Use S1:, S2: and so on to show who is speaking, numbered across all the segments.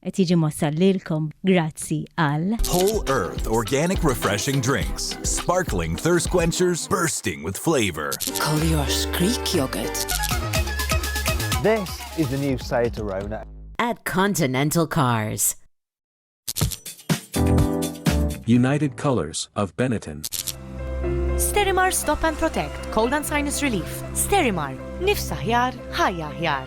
S1: Qed jiġi mwassal lilkom grazzi għal. Whole Earth
S2: Organic Refreshing Drinks. Sparkling thirst quenchers bursting with flavor. Collier's Greek
S3: Yogurt.
S4: This is the new Seat Arona. At Continental
S3: Cars.
S5: United Colors of Benetton.
S6: Sterimar Stop and Protect, Cold and Sinus Relief. Sterimar, nifsa ħjar, ħajja ħjar.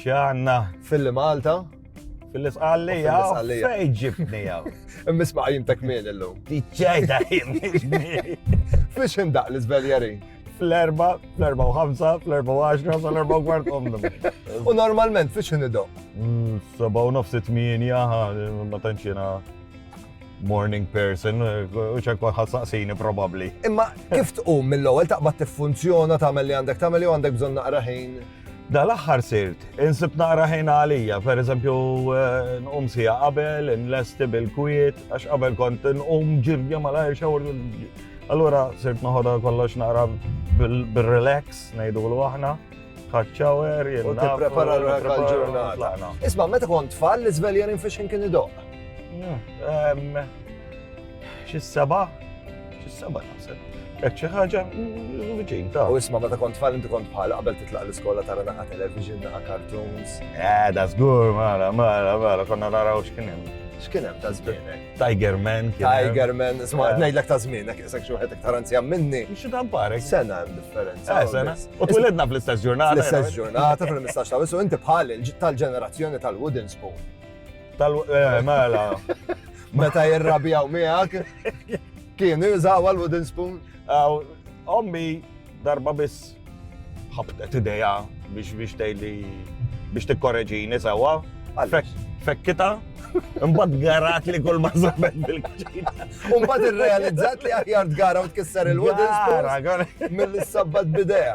S7: Xanna. Filli Malta.
S4: Filli sqalli
S7: jaw. Fej ġibni jaw. Immisma jim tak
S4: min illum. Tiċċajda jim.
S7: Fiex
S4: indaq l-izveljari? Fl-erba,
S7: fl-erba u ħamsa, fl-erba u għaxra, fl-erba u kwart omnu. U normalment
S4: fiex indidu? Mm, saba u
S7: nofsi tminja, ma tanċina morning person, u ċekwa ħassaqsini probabli. Imma kif tqum
S4: mill-ewwel taqbad tiffunzjona tagħmel li għandek tagħmel jew għandek bżonn naqra ħin? Dal-aħħar
S7: sirt, insib naqra ħin għalija, per eżempju, eh, nqum sija qabel, nlesti bil-kwiet, għax qabel kont nqum ġirja malajr xawr. Allura sirt noħodha kollox naqra bil-relax, ngħidu l aħna ħadċawer, jirna. U t-prepara
S4: l-ġurnata. Isma, meta kont tfal, l-izveljerin fiex kien idoq.
S7: Xi seba? Xi seba naħseb. Jekk xi ħaġa viċin ta'. U isma' meta kont tfal inti
S4: kont bħala qabel titlaq l-iskola tara naqa' television, naqa' cartoons. Eh, da żgur,
S7: mara, mara, mara, konna naraw x'kien hemm. X'kien hemm ta'
S4: żmienek? Tiger Man.
S7: Tiger Man, isma'
S4: eh. ngħidlek ta' żmienek, isek xi wieħed iktar anzjan minni. Xi ta' mparek. Sena
S7: hemm differenza.
S4: Eh, sena. U twilidna
S7: fl-istess ġurnata. Fl-istess ġurnata, fil-15
S4: ta' u inti bħal tal-ġenerazzjoni tal-Wooden Spoon. Tal eh,
S7: mela.
S4: Meta jirrabjaw miegħek. Kien jużaw għal wooden spoon. Ommi
S7: darba biss ħabtet ideja biex biex tgħidli biex tikkoreġini sewwa. Fekkita, Mbad garat li kull ma żabet bil-kċina. Mbad
S4: irrealizzat li aħjar tgara u tkisser il-wooden spoon mill-sabbat bidea.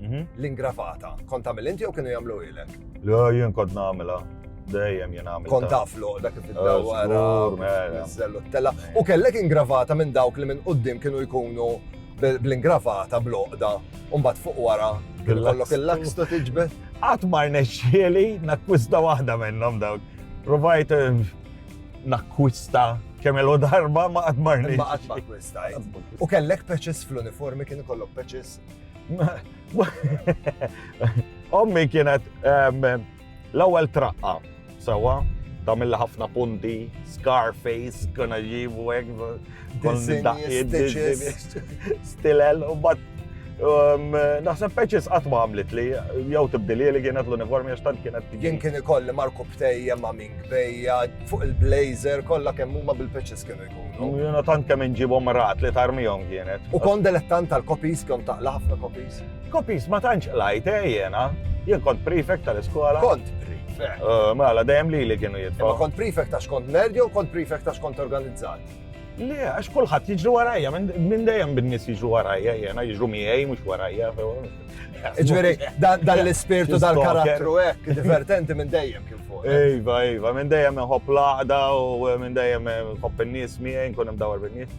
S4: Mhm. L-ingravata. Kont tagħmel inti jew kienu jagħmlu ilek? Le, jien kont
S7: nagħmilha. Dejjem jien għamil. Kont taflu dak kif
S4: id-dawwara, mela. zellu t-tela. U kellek ingravata minn dawk li minn qudiem kienu jkunu bl-ingravata bl-oqda. Umbat fuq wara, kollok il-laks tu tiġbed. Għatmar
S7: neċċieli, nakkwista waħda minnhom dawk. Provajt eh, nakkwista kemm il darba ma għatmar neċċieli. Ma għatmar kwista.
S4: U kellek peċis fl-uniformi kien kollok peċis
S7: Ommi kienet ehm, l-ewwel traqqa, sewa, tamilla ħafna punti, Scarface, kuna ġibu għek, stilel, u bat ehm, Naħseb peċis qatt ma għamlet li, jew tibdili li kienet l-uniformi għax tant kienet. Jien kien ikolli Marku
S4: Btejja ma' Ming Bejja fuq il-blazer kollha kemm huma bil-peċis kienu Jena tant kemm inġibhom
S7: rat li tarmihom kienet. U kon delettant
S4: tal-kopis, kon taqla ħafna kopis. Kopis ma tantx
S7: qlajt eh, jena. Jien kont prefect tal-iskola. Kont
S4: prefect. Eh, mela dejjem li
S7: li kienu jitfa. Ma kont prefect għax kont
S4: nerd jew kont prefect għax kont organizzat. Le, għax
S7: kulħadd jiġru warajja, minn dejjem bin-nies jiġru warajja, jena jiġru miegħi mhux warajja.
S4: Ġveri, dan l-ispirtu tal-karattru hekk, divertenti minn dejjem kif fuq. Ejva, ejva, minn dejjem
S7: nħobb laħda u minn dejjem nħobb in-nies miegħi nkun hemm dawar bin-nies.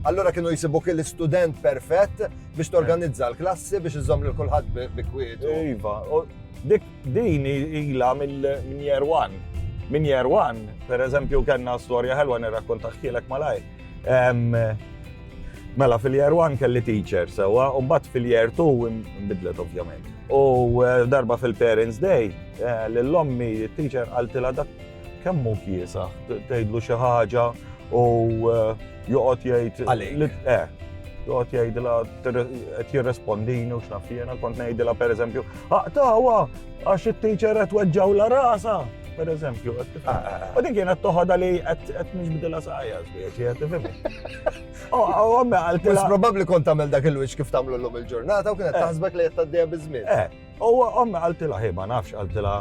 S7: Allura
S4: kienu jisibuk il-student perfett biex torganizza l-klassi biex iżomm lil kulħadd bi kwiet. Ejva,
S7: dik din ilha minn year one. Minn year one, per eżempju, kellna storja ħelwa nirrakkonta ħkielek malaj. Mela, fil-year one kelli teacher, sewa, u mbagħad fil-year two nbidlet ovvjament. U eh, darba fil-Parents Day, eh, l-lommi, il-teacher għaltila dak kemmu kiesa, tgħidlu xi ħaġa u eh, joqgħod jgħid. Għalik.
S4: Joqgħod
S7: jgħidilha qed jirrespondini u x'naf jiena kont ngħidilha pereżempju, aqtawa, Għax it-teacher qed weġġawla rasa, per eżempju. Ah, ah, ah. U din kienet toħodha li qed nixbidilha sajja biex qed tifhimni. Oh, oh, għamme għalti. Mhux probabbli kont tagħmel
S4: dak il-wiċċ kif tagħmlu llum il-ġurnata u kienet eh. taħsbek li qed tgħaddejha biż-żmien. Eh, u għamme
S7: għaltilha ħi ma nafx għaltilha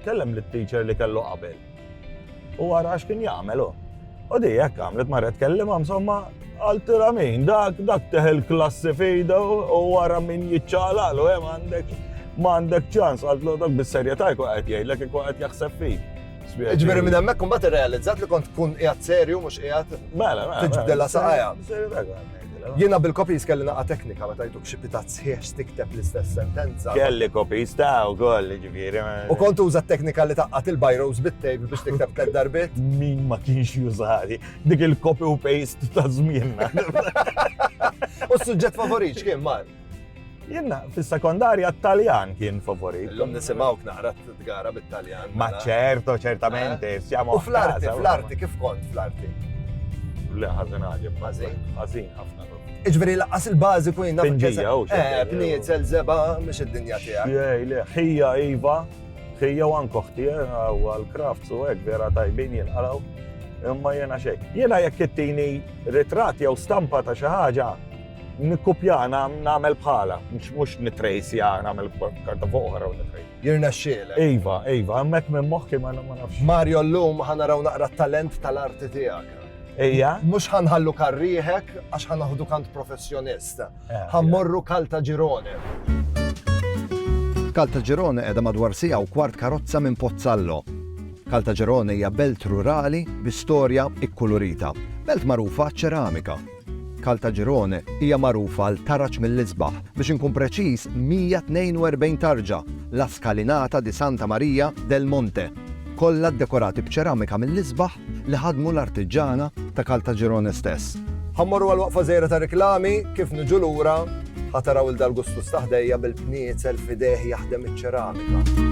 S7: kellem lit-teacher li kellu qabel. U ara x'kien jagħmel hu. U di hekk għamlet marret tkellimha insomma għaltilha min dak dak teħel klassi fejda u wara min jiċċalal u hemm għandek m'għandek ċans għaltlu dak bis-serjetà jkun qed jgħidlek ikun qed jaħseb fik. Ġifieri minn hemmhekk
S4: imbagħad irrealizzat li kont tkun qiegħed serju mhux qiegħed mela, mela, mela tiġbdilha saqajha. Jiena bil-kopis kelli naqa teknika meta jtuk xi pita sħiħ tikteb l-istess sentenza. Kelli kopis ta'
S7: u koll, ġifiri. U kont uża teknika
S4: li taqqat il-bajros bit-tejb biex tikteb tled darbit? Min ma kienx
S7: jużari, dik il-copy u paste ta' zmienna.
S4: U s-suġġett favorit kien mar? Jenna,
S7: fil-sekondarja t-Taljan kien favorit. L-lum nisimawk naqra
S4: t-tgara bit-Taljan. Ma mela. ċerto,
S7: ċertamente, eh? siamo. U fl-arti,
S4: fl-arti,
S7: kif
S4: kont fl-arti? Le,
S7: ħazin għagħib. Ħazin? Ħazin, ħafna.
S4: Iġveri
S7: laqqas
S4: il-bazi ku jinna. Pinġija, u xie. Eh,
S7: pniet, zelzeba,
S4: mux id-dinja tija. Xie, le, ħija,
S7: Iva, ħija u ankoħti, eh, u għal-kraft, u għek, vera tajbin jinqalaw. Imma jena xej. Jena jek kittini ritrat jew stampa ta' xaħġa, Nikkupja nagħmel bħala, mhux nitrejsja nagħmel karta fuq oħra u nitrejs. Jirnexxielek.
S4: Iva, iva, hemmhekk
S7: minn moħħi ma nafx. Mario llum
S4: ħanaraw naqra t-talent tal-arti tiegħek. Ejja. Mhux
S7: ħanħallu
S4: karrieħek għax ħanaħdu kant professjonist. Eh, Ħammorru Kalta Ġirone. Kalta Ġirone qiegħda madwar sija u kwart karozza minn Pozzallo. Kalta Ġirone hija belt rurali bi storja ikkulurita. Belt magħrufa ċeramika. Caltagirone hija magħrufa għal tarġ mill-isbaħ, biex inkun preċiż 142 tarġa, La Scalinata di Santa Maria del Monte, kollha ddekorati b'ċeramika mill-isbaħ li ħadmu l-artiġġana ta' Caltagirone stess. Ħa mmorru għal waqfa żgħira ta' riklami, kif niġu lura, ħa taraw 'il Dal Gustus ta' ħdejja bil-bniezel f'idejh jaħdem iċ-ċeramika.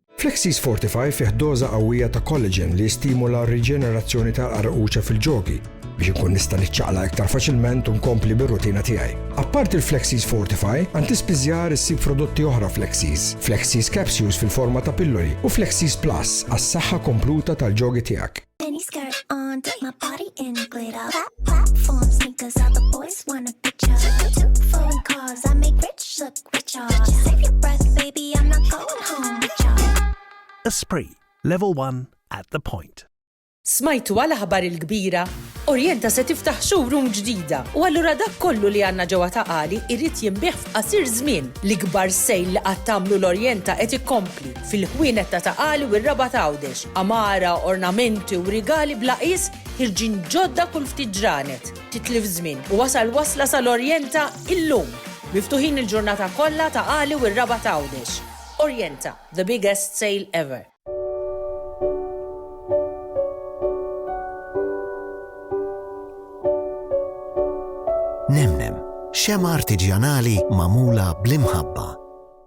S8: Flexis Fortify fih doża qawwija ta' collagen li jistimula r-riġenerazzjoni tal-qarquċa fil-ġogi biex inkun nista' niċċaqlaq iktar faċilment u nkompli bir-rutina tiegħi. Apparti l-Flexis Fortify, għand tispiżjar issib prodotti oħra Flexis, Flexis Capsules fil-forma ta' pilloli u Flexis Plus għas-saħħa kompluta tal-ġogi tiegħek.
S9: Mini skirt on, take my body in glitter. Plat platform sneakers, all the boys want a picture. Two foreign cars, I make rich look richer. Save your breath,
S10: baby, I'm not going home with ya. Esprit, level 1 at the point. Smajtu
S11: għal aħbar il-kbira? Orjenta se tiftaħ showroom ġdida u allura dak kollu li għandna ġewwa ta' qali irrid jinbih f'qasir żmien. L-ikbar sejl li qatt tagħmlu l-Orjenta qed ikkompli. fil-ħwienet ta' Ta' Qali u r-Rabat Għawdex, għamara, ornamenti u rigali bla qies ħirġin ġodda kull ftit ġranet. Titlif ż-żmien u wasal wasla sal-Orjenta illum! Miftuħin il-ġurnata kollha Ta' Qali u r-Rabat Għawdex. Orjenta, the biggest sale ever!
S12: Nemnem, xemgħa artiġjanali magħmula bl-imħabba.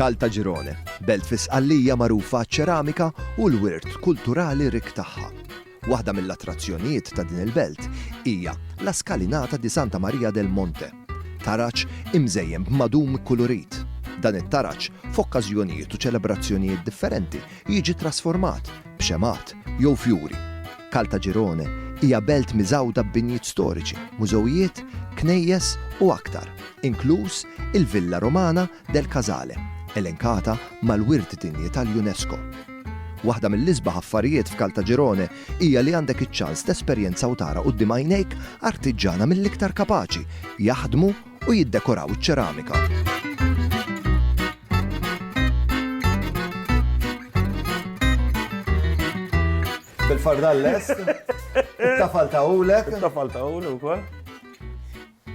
S13: Caltagirone, belt fi Sqallija magħrufa għaċ-ċeramika u l-wirt kulturali rikk tagħha. Waħda mill-attrazzjonijiet ta' din il-belt hija La Scalinata di Santa Maria del Monte, taraġ imżejjen b'madum ikkulurit. Dan it-taraġ, f'okkażjonijiet u ċelebrazzjonijiet differenti, jiġi ttrasformat b'xemgħat jew fjuri. Caltagirone hija belt miżgħuda b'binjiet storiċi, mużewijiet, knejjes u aktar, inkluż il-Villa Romana del Casale, elenkata mal-Wirt Dinji tal-UNESCO. Waħda mill-isbaħ affarijiet f'Caltagirone hija li għandek iċ-ċans tesperjenza u tara quddiem għajnejk artiġġana mill-iktar kapaċi jaħdmu u jiddekoraw iċ-ċeramika.
S4: bil-fardal lest. Tafal ta' ulek. Tafal ta' ulek u kol.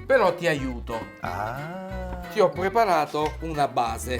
S14: Pero ti aiuto. Ah. Ti ho preparato una base.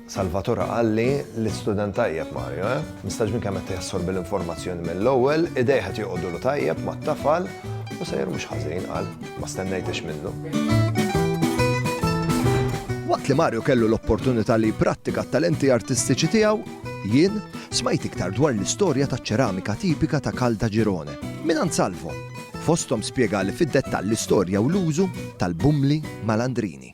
S4: Salvatore qal li l-istudent tajjeb Mario, eh? Mistaġbin kemm qed jassorbi l-informazzjoni mill-ewwel, idejh qed joqogħdulu tajjeb mat-tafal u sejr mhux ħażin, qal. Ma stennejtiex minnu.
S13: Waqt li Mario kellu l-opportunità li jipprattika t-talenti artistiċi tiegħu, jien smajt iktar dwar l-istorja ta' ċeramika tipika ta' Kalda Ġirone, minn Salvo. Fostom spjegali fid-dettall l-istorja u l-użu tal-bumli malandrini.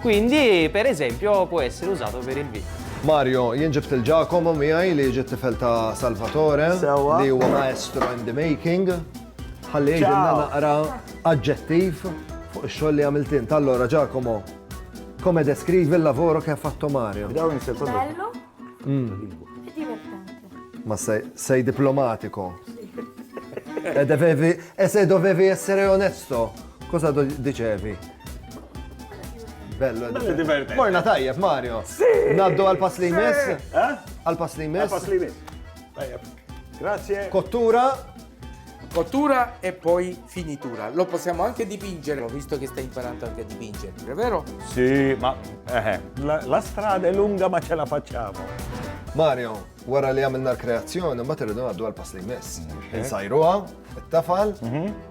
S15: Quindi, per esempio, può essere usato per il vino. Mario, jien ġibt
S4: il-Giacomo miegħi li ġiet tifel ta' Salvatore Sewwa. li huwa maestro in the making. Ħalli jgħidilna Ciao. naqra aġġettiv fuq ix-xogħol li għamilt int. Allora Giacomo, come descrivi il-lavoro che ha fatto Mario? Dawn nisir kollu. Bello e
S16: divertente. Ma sei,
S4: sei diplomatico. E, devevi, e se dovevi essere onesto, Cosa do dicevi? Bello, Bello divertente. Morna tajjeb, Mario. Sì. Naddu għal-pass
S7: li jmiss.
S4: Eh? Għal-pass li jmiss. Għal-pass li jmiss. Tajjeb.
S7: Grazie. Kottura.
S14: Kottura e poi finitura. Lo possiamo anche dipingere, visto che stai imparando anche a dipingere, è vero? Sì, ma
S7: eh, la, la strada è lunga ma ce la facciamo. Mario,
S4: wara li għamilna l-kreazzjoni, ma t-ridu għaddu għal-pass li jmiss. Insajruha, it-tafal, mhm.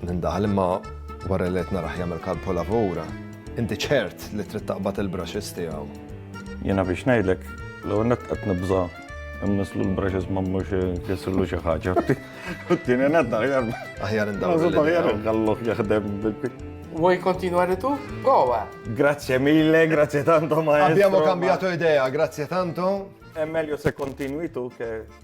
S4: Nindaħal imma wara li qed narah jagħmel kalpolavura, inti ċert li trid taqbad il-brushes tiegħu. Jiena biex
S7: ngħidlek, l-ewwel nett qed nibża' immislu l-brushes ma mhux jissillu xi ħaġa. Tieni nett aħjar. Aħjar indawru.
S4: Aħjar nħalluh
S7: jaħdem Vuoi continuare
S14: tu? Goa! Grazie mille,
S7: grazie tanto maestro. Abbiamo cambiato idea,
S4: grazie tanto. È meglio se
S7: continui tu che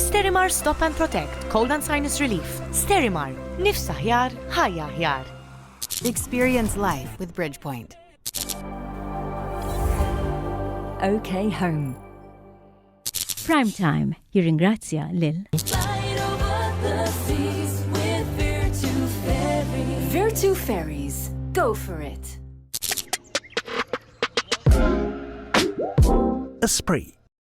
S6: Sterimar Stop and Protect, Cold and Sinus Relief. Sterimar, nifs aħjar, ħajja aħjar. Experience
S17: life with Bridgepoint.
S1: OK Home. Prime Time jirringrazzja lil
S17: Virtu Ferries. Go for it. Esprit